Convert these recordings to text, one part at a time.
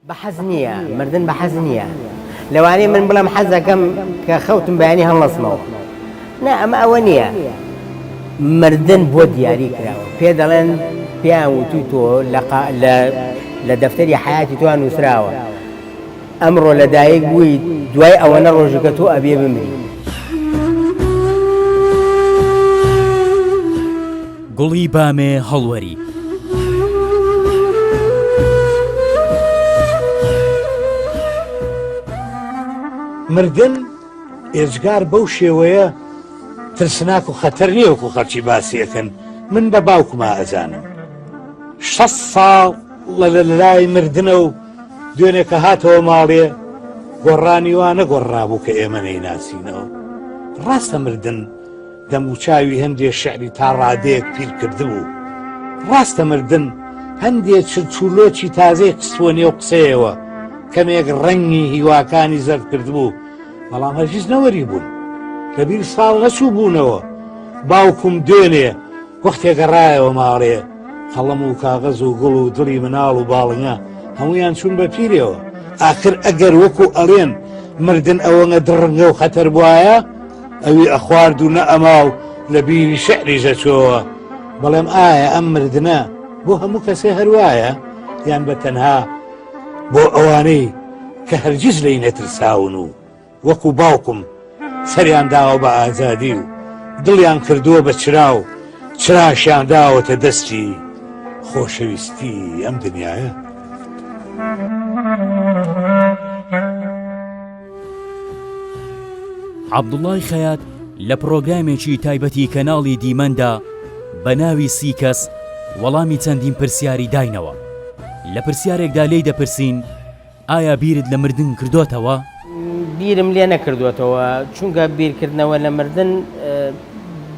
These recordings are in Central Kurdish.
بە حەز نییە مردن بە حەز نییە لەوانەیە من بڵم حەز دەکەم کە خەوتم بەیانی هەڵەسمەوە نا ئەمە ئەوە نییە مردن بۆ دیاری کراوە پێ دەڵێن پێیان وتوی تۆ لە دەفتەری حیاتی توان نووسراوە ئەمڕۆ لەدایک بووی دوای ئەوەنە ڕۆژەکە تۆ ئەبێ بمری گوڵی بامێ هەڵوەری. مردن ئێجگار بەو شێوەیە ترسناک و خەتەر نیەوەکو خەرچی باسیەکەن من بە باوکما ئەزانم شە ساڵ لە لە لای مردنە و دوێنێکە هاتەوە ماڵێ گۆڕانی وانە گۆڕابوو کە ئێمە نەیناسینەوە ڕاستە مردن دەموچاوی هەندێ شعری تا ڕادەیەک پیر کردبوو. ڕاستە مردن هەندێ چرچ و لۆچی تازەی خستبووە نێو قسەیەوە، کەمێک ڕەنگی هیواکانی زەرد کردبوو، بەڵام هەرگیز نەوەری بوون. لەبیر ساڵ نەچووبوونەوە، باوکم دوێنێ، وەختێ گەڕایەوە ماڵێ قەڵەم و کاغەز و گوڵ و دڵی مناڵ و باڵنگە هەمویان چوون بە پیرەوە ئاخر ئەگەر وەکو ئەڵێن مردن ئەوەنە دڕنگە و خەتەر بواە ئەوی ئەخوارد و نە ئەما و لە بیری شعری ژەچۆوە بەڵێم ئایا ئەم مردە بۆ هەموو کەسێ هەروایە یان بە تەنها بۆ ئەوانەی کە هەرگیز لی نەترساون و وەکو باوکم سەریان داوە بە ئازادی و دڵیان کردووە بە چرا و چراشیان داوەتە دەستی خۆشەویستی ئەم دنیاە. عەبدوڵای خەیات لە پڕۆگرامێکی تایبەتی کەناڵی دیمەندا بە ناوی سی کەس وەڵامی چەندین پرسیاری داینەوە لە پرسیارێکدا لێی دەپرسین ئایا بیرت لە مردن کردۆتەوە؟ بیرم لێ نەکردۆتەوە، چونکە بیرکردنەوە لە مردن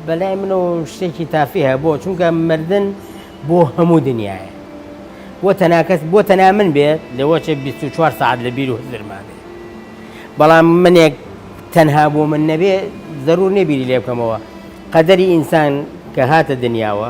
بەلای منەوە شتێکی تافیهە، بۆ؟ چونکە مردن بۆ هەموو دنیایە بۆ تەنها کەس، بۆ تەنها من بێت لەوەچێ بیست و چوار سەعات لە بیر و هزرما بێت، بەڵام منێک تەنها بۆ من نەبێ زەرور نیە بیری لێ بکەمەوە، قەدەری ئینسان کە هاتە دنیاوە،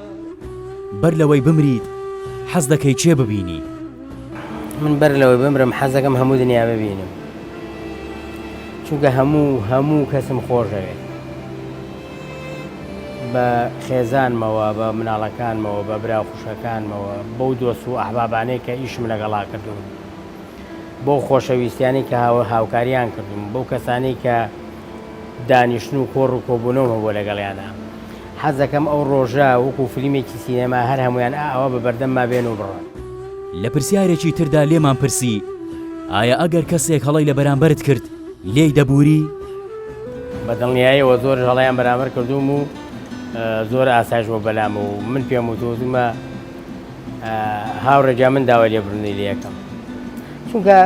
بەر لەوەی بمریت حەز دەکەی چێ ببینی؟ من بەر لەوەی بمرم حەز دەکەم هەموو دنیا ببینم چونکە هەموو هەموو کەسم خۆشەوێت بە خێزانمەوە بە مناڵەکانمەوە بە برا خوشەکانمەوە بەو دۆست و ئەحبابانەی کە ئیشم لەگەڵا کردوون بۆ خۆشەویستیانی کە هاوە هاوکاریان کردوم بەو کەسانی کە دانیشتن و کۆڕ و کۆبوونەوە بۆ لەگەڵیانە حەزەکەم ئەو ڕۆژە وەکو فلیمێکی سینەما هەر هەموویان ئا ئاوا بە بەردەمما بێن و بڕۆن. لە پرسیارێکی تردا لێمان پرسی، ئایا ئەگەر کەسێک هەڵەی لە بەرامبەرت کرد لێی دەبووری؟ بە دڵنیایەوە زۆرش هەڵەیان بەرامبەر کردووم و زۆر ئاسایش بووە بەلام و من پێم وت و وتومە هاوڕێ گیان من داوای لێبوردنی لێ ئەکەم چونکە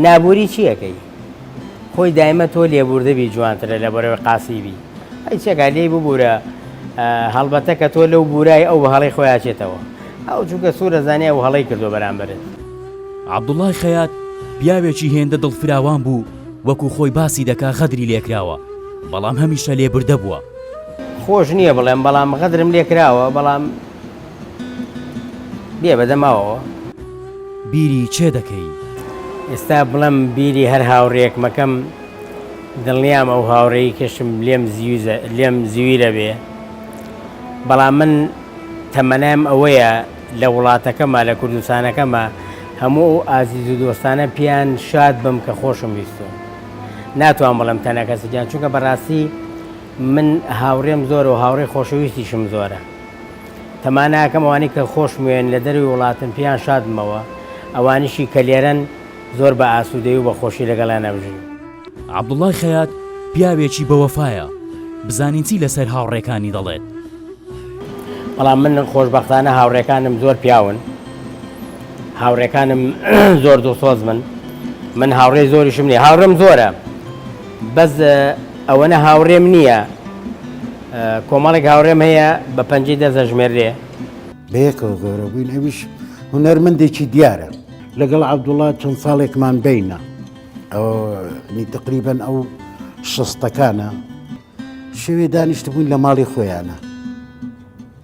نابووری چی ئەکەی؟ خۆی دایمە تۆ لێبوردبی جوانترە لە بەرەوەی قاسیبی ئەی چێگا لێی ببورە هەڵبەتە کە تۆ لەو بورای ئەو بە هەڵەی خۆیاچێتەوە ئەو چووکە سوورە زانیە و هەڵەی کردو بەرامبەرت. عەبدوڵای خەیات پیاوێکی هێندە دڵفراوان بوو وەکو خۆی باسی دەکا غەدری لێکراوە بەڵام هەمیشە لێبوردە بووە. خۆش نیە بڵێم بەڵام غەدرم لێکراوە بەڵام. بێ بەدە ماوەوە. بیری چێ دەکەی؟ ئێستا بڵێم بیری هەر هاوڕیەک مەکەم دڵنیام ئەو هاوڕێی کەشم لێم زیوزە لێم زویرە بێ بەڵام من تەمەنایم ئەوەیە لە وڵاتەکەمە لە کوردستانەکەمە هەموو ئەو ئازیز و دۆستانە پیان شاد بم کە خۆشم ویستون ناتوان بڵم تەنەکەسەجان چونکە بەڕاستی من هاوڕێم زۆر و هاوڕێ خۆشەویستیشم زۆرە تەما ناکەم ئەوانەی کە خۆشموێن لە دەروی وڵاتن پێیان شادبمەوە، ئەوانیشی کە لێرەن زۆر بە ئاسوودەیی و بە خۆشی لەگەڵیان ئەمژیم. عەبدوڵای خەیات پیاوێکی بە وەفایە، بزانین چی لەسەر هاوڕێکانی دەڵێت. بەڵام من خۆشبەختانە هاوڕێکانم زۆر پیاون، هاوڕێکانم زۆر دڵسۆزمن، من هاوڕێی زۆریشم نییە، هاوڕێم زۆرە بەس ئەوەنە هاوڕێم نییە، کۆمەڵێک هاوڕێم هەیە بە پەنجەی دەست دەژمێررێ. بەیەکەوە گەورە بووین ئەویش هونەرمەندێکی دیارە. لەگەڵ عەبدوڵڵا چەند ساڵێکمان بینە ئەوە نی تقریبەن ئەو شەستەکانە شەوێ دانیشتبووین لە ماڵی خۆیانە.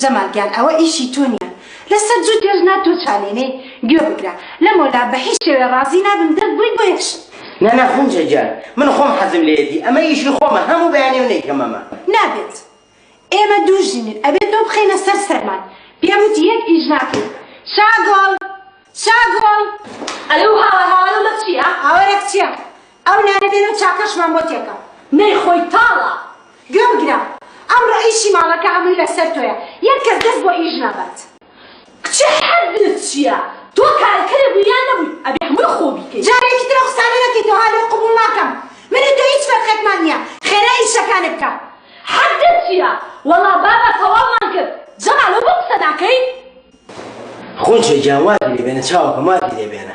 جەمال گیان ئەوە ئیشی تۆ نیە لەسەر جوت درێژ نا تۆ چالێنێی گوێ بگرە لە مۆلا بە هیچ شێوێ ڕازی نابم دەک بوی بۆ یەک شت. نا نا خونجە گیان من خۆم حەزم لێیەتی ئەمە ئیشی خۆمە هەمو بەیانیو نەیکەم ئەمە. نابێت ئێمە دوو ژنین ئەبێت تۆ بخەینە سەر سەرمان پێم وتی یەک ئیش ناکەی شاگۆڵ شاگۆڵ. ئەرێ و هاوار هاوارە مە چیە. هاوارێک چیە ئەو نانە بێنە و چاکەشمان بۆ تێکە. نەی خۆی تاڵە گوێ بگرە ئەمڕۆ ئیشی ماڵەکە هەمووی لەسەر تۆیە یەک کەس دەست بۆ ئیش نابات. کچێ حەدت چیە تۆ کارەکەرێ بووی یان نەبووی ئەبێ هەمووی خۆو بیکەی. جارێکی تر ئەو قسانە نەکەی تەوها لۆ قبوڵ ناکەم من و تۆ هیچ فەرقێکمان نیە خێرای ئیشەکانت بکە. حەدت چیە وەڵا بابە تەواومان کرد. جەمال ئەو بۆ قسە ناکەی. خۆ جوێ گیان وازی لێ بێنە چاوەکەم وازی لێ بێنە.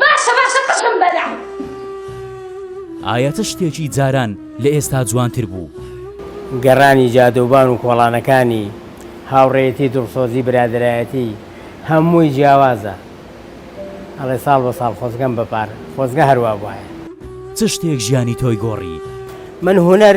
باشە باشە قژم بەرە. ئایا چ شتێکی جاران لە ئێستا جوانتر بوو؟ گەڕانی جادەوبان و کۆڵانەکانی، هاوڕێیەتی دڵسۆزی برادەرایەتی هەمووی جیاوازە ئەڵێ ساڵ بە ساڵ خۆزگەم بە پار خۆزگە هەر وابوایە. چ شتێک ژیانی تۆی گۆڕی؟ من هونەر.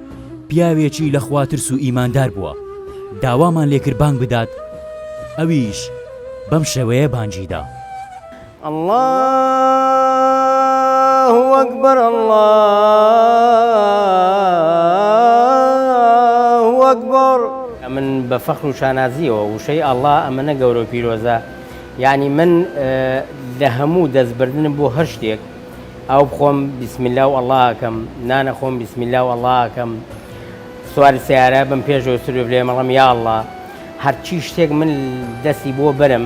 پیاوێکی لە خوا ترس و ئیماندار بووە، داوامان لێ کرد بانگ بدات، ئەویش بەم شێوەیە بانگی دا. اللە اکبر اللە اکبر. ئەمن بە فەخر و شانازییەوە وشەی اللە ئەمەنە گەورە و پیرۆزە، یانی من لە هەموو دەست بردنم بۆ هەر شتێک، ئاو بخۆم بسم اللە و اللە ئەکەم نان ئەخۆم بسم اللە و اللە ئەکەم سواری سیارە بم پێشەوە سروێ بلێ مەڵم یا اللە هەرچی شتێک من دەستی بۆ بەرم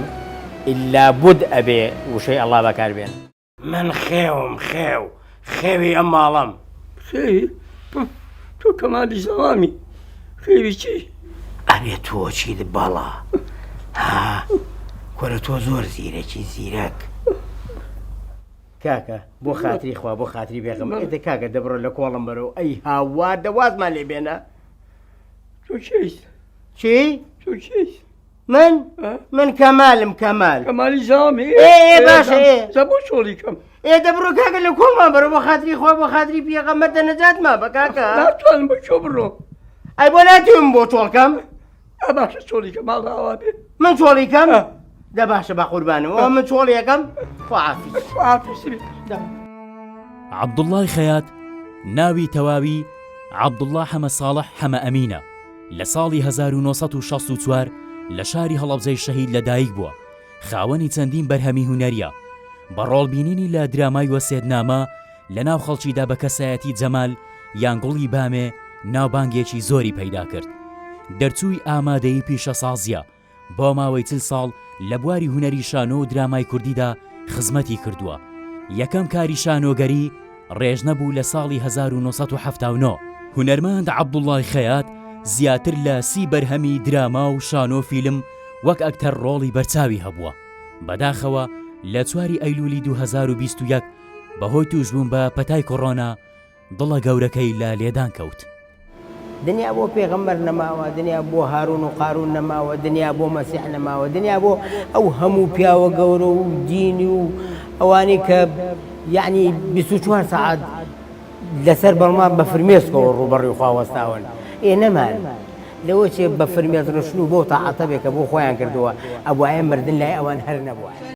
ئیلا بوود ئەبێ وشەی اللە بەکار بێنم. من خێوم خێو خێوی ئەم ماڵەم. خێوی تۆ تۆ کەمالی زەڵامی خێوی چی؟ ئەبێ تۆ چیت بەڵا ها کورە تۆ زۆر زیرەکی زیرەک. کاکە بۆ خاتری خوا بۆ خاتری بێغم ئێدە کاکە دەبڕە لە کۆڵم بەرەوە ئەی هاوار دەوازمان لێ بێنە چی؟ من من کەمالم کەمال کەمالی زامی بۆ چۆڵی کەم ئێ دەبڕۆ کاکە لە کۆڵمان بەرەوە خاتری خوا بۆ خاتری پێغەمەر دەنەجاتمان بە کاکە ناتوانم بە چۆ بڕۆ ئەی بۆ ناتوانم بۆ چۆڵکەم ئا باشە چۆلیکە ماڵ ئاوا بێ من چۆڵیکەم دە باشە بە قوربانم ئەوە من چۆڵیەکەم خوافیز خوافیز بێ دە عەبدوڵڵای خەیات ناوی تەواوی عەبدوڵڵا حەمە ساڵح حەمە ئەمینە لە ساڵی 1964 لە شاری هەڵەبجەی شەهید لەدایک بووە خاوەنی چەندین بەرهەمی هونەریە بە ڕۆڵبینینی لە درامای وەسێتنامە لە ناو خەڵکیدا بە کەسایەتی جەمال یان گوڵی بامێ ناوبانگێکی زۆری پەیدا کرد. دەرچووی ئامادەی پیشەسازییە، بۆ ماوەی چل ساڵ لە بواری هونەری شانۆ و درامای کوردیدا خزمەتی کردووە. یەکەم کاری شانۆگەری، ڕێژنە، بوو لە ساڵی هەزار و نۆ سەد و حەفتا و نۆ. هونەرمەند عەبدوڵڵای خەیات زیاتر لە سی بەرهەمی دراما و شانۆ فیلم وەک ئەکتەر ڕۆڵی بەرچاوی هەبووە. بەداخەوە لە چواری ئەیلوولی دوو هەزار و بیست و یەک، بەهۆی تووشبوون بە پەتای کۆڕۆنا دڵە گەورەکەی لە لێدان کەوت. دنیا بۆ پێغەمبەر نەماوە، دنیا بۆ هارون و قارون نەماوە، دنیا بۆ مەسیح نەماوە، دنیا بۆ ئەو هەموو پیاوە گەورە و دینی و ئەوانەی کە یەعنی بیست و چوار سەعات لەسەر بەڵماڕ بە فرمێسکەوە ڕووبەڕووی خوا وەستاون، ئێ نەمان، لەوە چێ بە فرمێسک ڕشتن و بەو تاعەتە بێ کە بۆ خۆیان کردووە، ئەبوایە مردن لای ئەوان هەر نەبوایە.